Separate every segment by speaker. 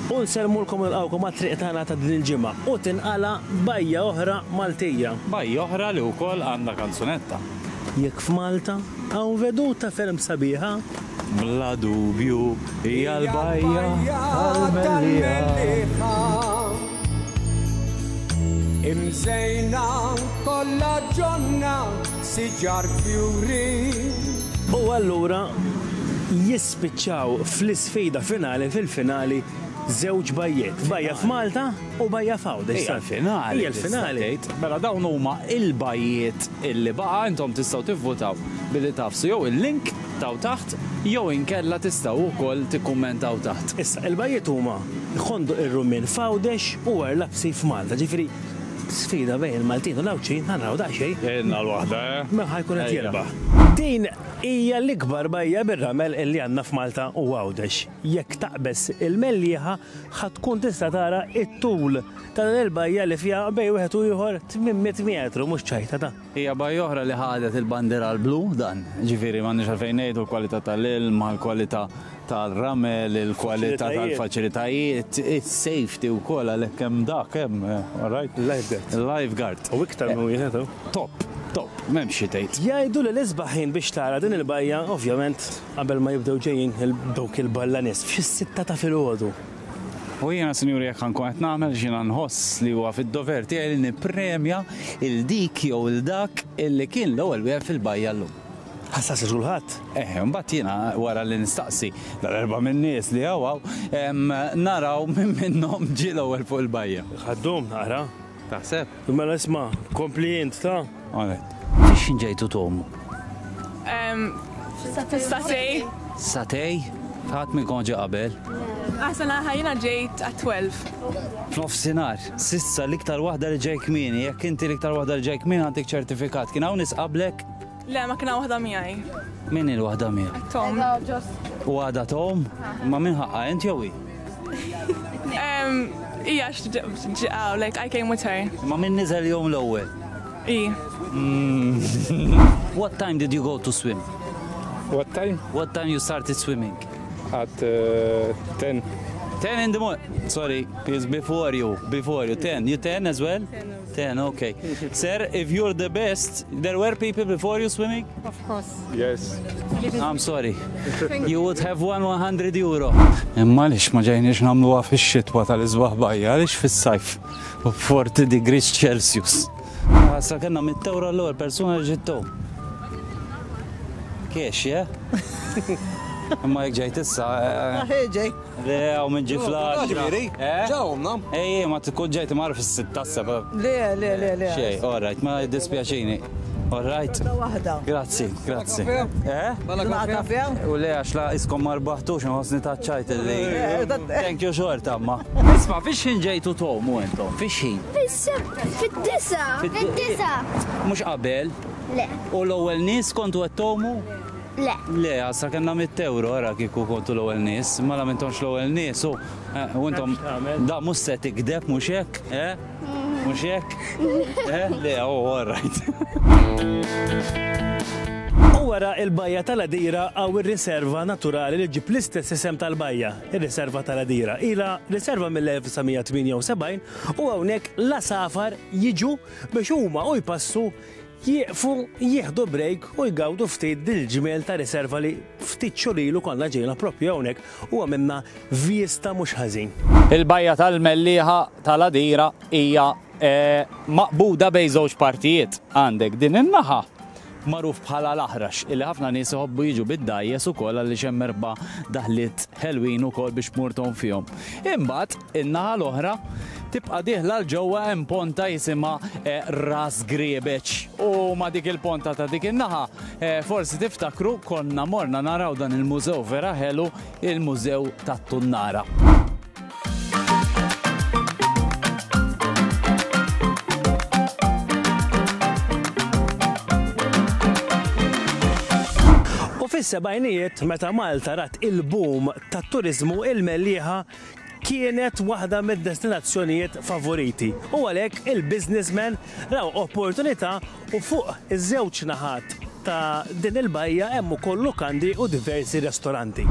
Speaker 1: U nsellmulkom u nilqgħukom għat-triq tagħna ta' din il-ġimgħa u tinqala' bajja oħra Maltija. Bajja oħra li
Speaker 2: wkoll għandha kanzunetta. Jekk
Speaker 1: f'Malta hawn veduta ferm sabiħa. Bla
Speaker 2: dubju hija l-bajja tal-mellieħa.
Speaker 3: Imżejna kollha ġonna siġar fjuri. U
Speaker 1: allura jis. Spiċċaw fl-isfida finali fil-finali żewġ bajjiet, bajja f'Malta u bajja f'Għawdex. Hija l-finali. Hija
Speaker 2: l-finali.
Speaker 1: Mela dawn huma
Speaker 2: l-bajjiet li baqa' intom tistgħu tivvutaw billi tagħfsu jew il-link t'hawn taħt jew inkella tistgħu wkoll tikkummentaw taħt. Issa, il-bajjiet huma
Speaker 1: Ħonduq ir-Rummien f'Għawdex u Għar Lapsi f'Malta. Ġifieri sfida bejn il-Maltin u l-Għawdxin, ħa naraw daqsxejn. Ilna l-waħda,
Speaker 2: eh? Min ħa jkun qed
Speaker 1: jirbaħ. Din Hija l-ikbar bajja bir-ramel li għandna f'Malta u Għawdex. Jekk taqbeż il-Mellieħa ħa tkun tista' tara t-tul ta' din il-bajja li fiha bejn wieħed u ieħor 800 metru mhux ċajtata. Hija bajja oħra li
Speaker 2: ħadet il-bandiera l-blu, dan, ġifieri, m'għandniex għalfejn ngħidu l-kwalità tal-ilma, l-kwalità tal-ramel, il-kwalità tal-faċilitajiet, is-safety wkoll għalhekk hemm dak hemm, all right? Il-lifeguard. Il-lifeguard. U iktar minn wieħed
Speaker 1: hawn. Top, top,
Speaker 2: m'hemmx xi tgħid. Jgħidu li l-isbaħ ħin
Speaker 1: biex tara din il-bajja ovvjament qabel ma jibdew ġejjin dawk il-balla nies, f'xi s-sitta ta' filgħodu. U jiena
Speaker 2: sinjuri jekk ħankun qed nagħmel x'jiena nħoss li huwa fid-dover tiegħi li nippremja il dik jew il dak illi kien l-ewwel wieħed fil-bajja llum. Ħassas lil kulħadd?
Speaker 1: Eh, imbagħad jiena
Speaker 2: wara li nistaqsi dal-erba' min-nies li hawn hawn, naraw min minnhom ġie l-ewwel fuq il-bajja. Ħaddum naqra.
Speaker 1: Taħseb? Mela
Speaker 2: isma',
Speaker 1: kompli int, ta? Għalet. X'ħin
Speaker 2: ġejtu tgħumu?
Speaker 4: Satej. Satej?
Speaker 2: Ħadd minnkom ġie qabel? Aħsan aħħa
Speaker 4: jiena ġejt għat-12. F'nofsinhar,
Speaker 2: s'issa l-iktar waħda li ġej kmieni, jekk inti l-iktar waħda li ġej kmieni għandek ċertifikat. Kien hawn nies qablek? Le, ma kiena waħda
Speaker 4: miegħi. Min hi l-waħda
Speaker 2: miegħek? Tom.
Speaker 4: U għada
Speaker 2: Tom? Ma min ħaqqa int jew hi?
Speaker 4: Ija x'ġiqaw, like I came with her. Ma min niżel jom
Speaker 2: l-ewwel? I. Hmm. What time did you go to swim? What time?
Speaker 5: What time you started
Speaker 2: swimming? At
Speaker 5: uh, 10. 10 in
Speaker 2: the morning. Sorry, it's before you. Before you. 10. You 10 as well? 10. Ten, okay. Sir, if you're the best, there were people before you swimming? Of course.
Speaker 4: Yes.
Speaker 5: I'm sorry.
Speaker 2: You would have won 100 euro. Imma lix ma ġejniex namlu għaf il-xitwa tal-izbaħ bajja, lix fil-sajf, 40 degrees Celsius. Għasa ah, kena mit-tewra l-għor, persona ġittu. Kiex, ja? Imma jek ġejt issa. Eh, eh. Ah, ġej.
Speaker 6: Le, u minn
Speaker 2: ġi flash. Ġviri, ġawna.
Speaker 6: Ej, ma tkun
Speaker 2: ġejt mar fis-sittassa. Le, le, le,
Speaker 6: le. Xej, all
Speaker 2: right, ma dispjaċini. All right. Grazzi, grazzi. Eh?
Speaker 6: Bala kafe? U le, għax la
Speaker 2: iskom marbaħtux, nħosni taċċajt li. Thank you xort, amma. Isma, fiex ħin ġejtu tomu entom? Fiex ħin? Fid-disa.
Speaker 7: Fid-disa.
Speaker 2: Mux qabel? Le. U
Speaker 7: l-ewwel nies
Speaker 2: kontu għattomu? Le. Le,
Speaker 7: għasra kellna
Speaker 2: mitt ewro, ara kieku kontu l-ewwel nies, mela m'intomx l-ewwel nies u eh, u intom da mhux se tikdeb mhux hekk, eh? Mhux hekk? Eh? Le, oh, all right.
Speaker 1: U wara il-bajja tal-Adira għaw ir-riserva naturali li ġib l-istess isem tal-bajja, ir-riserva tal-Adira. Ila riserva mill-1978 u hawnhekk l-asafar jiġu biex huma u jpassu Jieqfu, jieħdu break u jgawdu ftit din il-ġmiel ta' riserva li ftit xhur ilu konna ġejna proprju hawnhekk u għamilna vjista mhux ħażin. Il-bajja
Speaker 2: tal-Mellieħa tal-Għadira hija maqbuda bejn żewġ partijiet. Għandek din in-naħa magħruf bħala l-Aħrax illi ħafna nies iħobbu jiġu bid-dgħajjes ukoll għaliex hemm erba' daħliet ħelwin ukoll biex tmur tgħum fihom. Imbagħad In-naħa l-oħra, tibqa' dieħla 'l ġewwa hemm ponta jisimha Ras Griebeċ u ma' dik il-ponta ta' dik in-naħa, forsi tiftakru, konna morna naraw dan il-mużew vera ħelu, il-Mużew tat-Tunnara.
Speaker 1: U fis-sebgħinijiet, meta Malta rat il-boom tat-turiżmu, il-Mellieħa kienet waħda mid-destinazzjonijiet favoriti u għalhekk il-businessmen raw opportunità u fuq iż-żewġ naħat ta' din il-bajja hemm ukoll lukandi u diversi restoranti.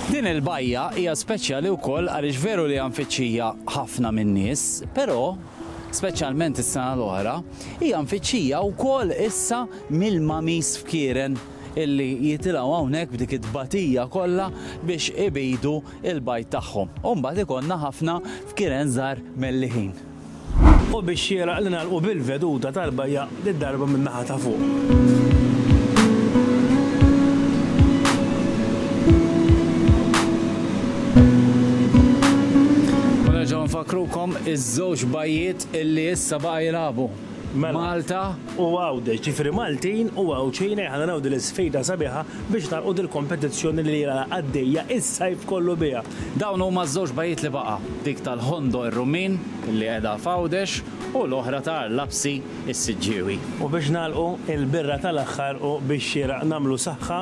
Speaker 1: Din
Speaker 2: il-bajja hija speċjali wkoll għaliex veru li hija mfittxija ħafna min-nies, però, speċjalment is-sena l-oħra, hija mfittxija wkoll issa mill-mamis fkieren illi jitilgħu hawnhekk b'dik it-tbatija kollha biex ibidu l-bajd tagħhom. U mbagħad ikollna ħafna fkieren żgħar melliħin. U
Speaker 1: biex xieraq li nagħlqu bil-veduta tal-bajja did-darba min-naħa ta' fuq.
Speaker 2: U nerġgħu nfakkrukom iż-żewġ bajjiet illi issa baqa' jilagħbu. Malta u Għawdex,
Speaker 1: ġifieri Maltin u Għawdxin ejja ħa naraw din l-isfida sabiħa biex nagħlqu dil-kompetizzjoni li ilha għaddejja is-sajf kollu biha. Dawn huma ż-żewġ
Speaker 2: bajjiet li baqa', dik tal-Ħondo ir-Rummin, li qiegħda f'Għawdex, u l-oħra ta' Arlapsi, is-Siġġiewi. U biex nagħlqu,
Speaker 1: il-birra tal-aħħar u biex xieraq nagħmlu saħħa.